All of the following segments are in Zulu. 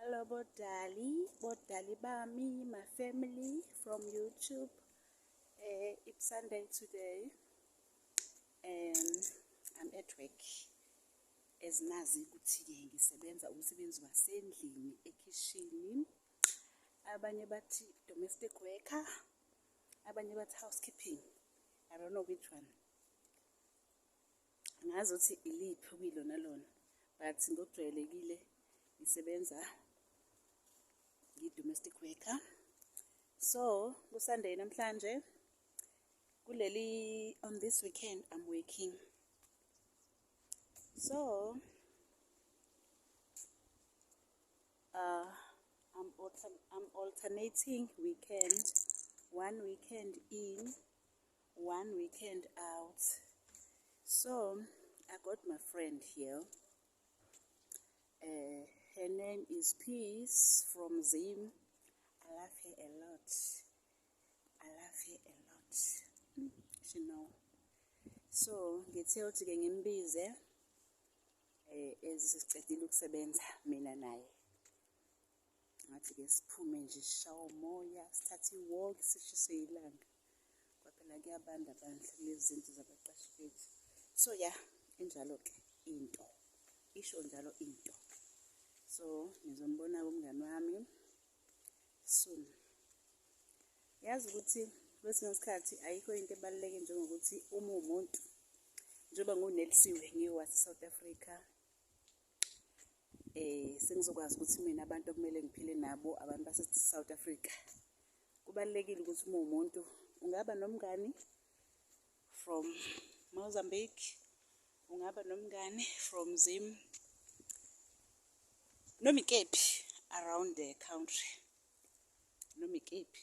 Hello bodali, bodali bami, my family from YouTube. Uh, it's Sunday today. Um, I'm at work. As nazi ukuthi-ke ngisebenza umsebenzi wasendlini ekhishini. Abanye bathi domestic worker, abanye bathi housekeeping. I don't know which one. ngazi ukuthi iliphi okuyilona lona but ngokujwayelekile ngisebenza ngi-domestic worker so kusunday namhlanje kuleli on this weekend i'm working so uh, I'm, alter I'm alternating weekend one weekend in one weekend out so i got my friend here uh, her name is peace from zim i love her a lot i love her a lot mm, she know so ngithe ukuthi-ke ngimbize um eh, ezisicedile ukusebenza mina naye ngathi-ke siphume nje sishawa umoya sithathe iwalk sishiswe yilanga ngoba phela kuyabanda bandla kulezi zindlu zabaqashi bethu so ya injalo-ke into isho njalo into so ngizombona kumngani wami soon yazi ukuthi kwesinye isikhathi ayikho into ebaluleke njengokuthi uma uwumuntu njengoba ngunelisiwe ngiwase-south africa eh sengizokwazi ukuthi mina abantu okumele ngiphile nabo abantu base South Africa kubalekile ukuthi uma umuntu ungaba nomngani from Mozambique ungaba nomngani from Zim noma ikephi around the country noma ikephi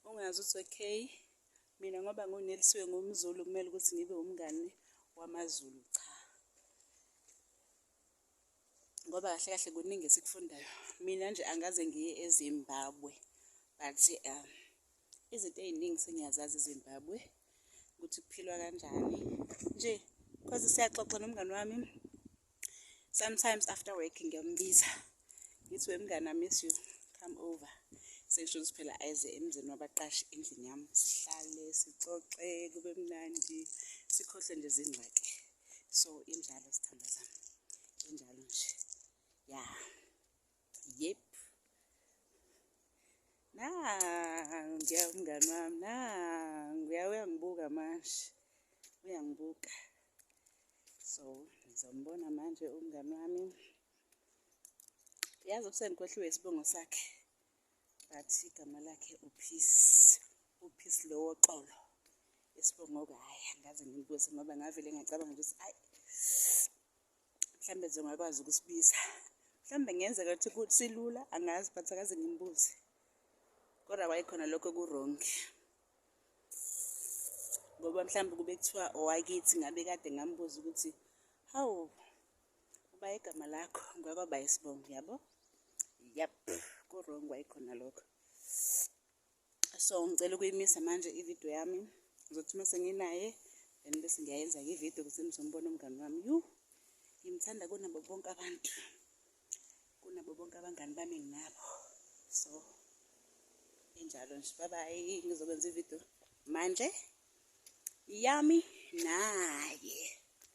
ungazi ukuthi okay Mina ngoba ngunelisiwe ngumzulu kumele ukuthi ngibe umngani wamazulu cha ngoba kahle kahle kuningi esikufundayo mina nje angaze ngiye ezimbabwe but um izinto ey'ningi sengiyazazi ezimbabwe ukuthi kuphilwa kanjani nje cause siyaxoxa nomngani wami sometimes after work ngiyombiza ngithi wemngane i miss you come over sengisho ukuthi phela ayeze emzini wabaqashi endlini yami sihlale sixoxe kube mnandi sikhohlwe nje zingxaki so injalo sithandwa zami injalo nje ya yeah. Yep. Nangu ngiya umngani wami nangu uya uyangibuka manje uyangibuka so ngizombona manje umngani wami yazi usenikohliwe isibongo sakhe but igama lakhe upeace upeace lowo xolo isibongo-ke hhayi angaze ngimbuze ngoba ngavele ngacabanga ukuthi ayi mhlawumbe nje ungakwazi ukusibiza mhlawumbe ngenzeka ukuthi silula angazi but akaze ngimbuze kodwa kwayikhona lokho kurongi ngoba mhlawumbe kube kuthiwa owakithi ngabe kade ngambuza ukuthi hawu uba igama lakho ngwakwaba isibongo yabo yep kurong kwayikhona lokho so ngicela ukuyimisa manje ividiyo yami ngizothi uma senginaye then bese ngiyayenza-ke ividiyo ukuthi nizombona umngani wami yu ngimthanda kunabo bonke abantu kunabo bonke abangani bami nginabo so injalo nje babayi ngizokwenza ividiyo manje yami naye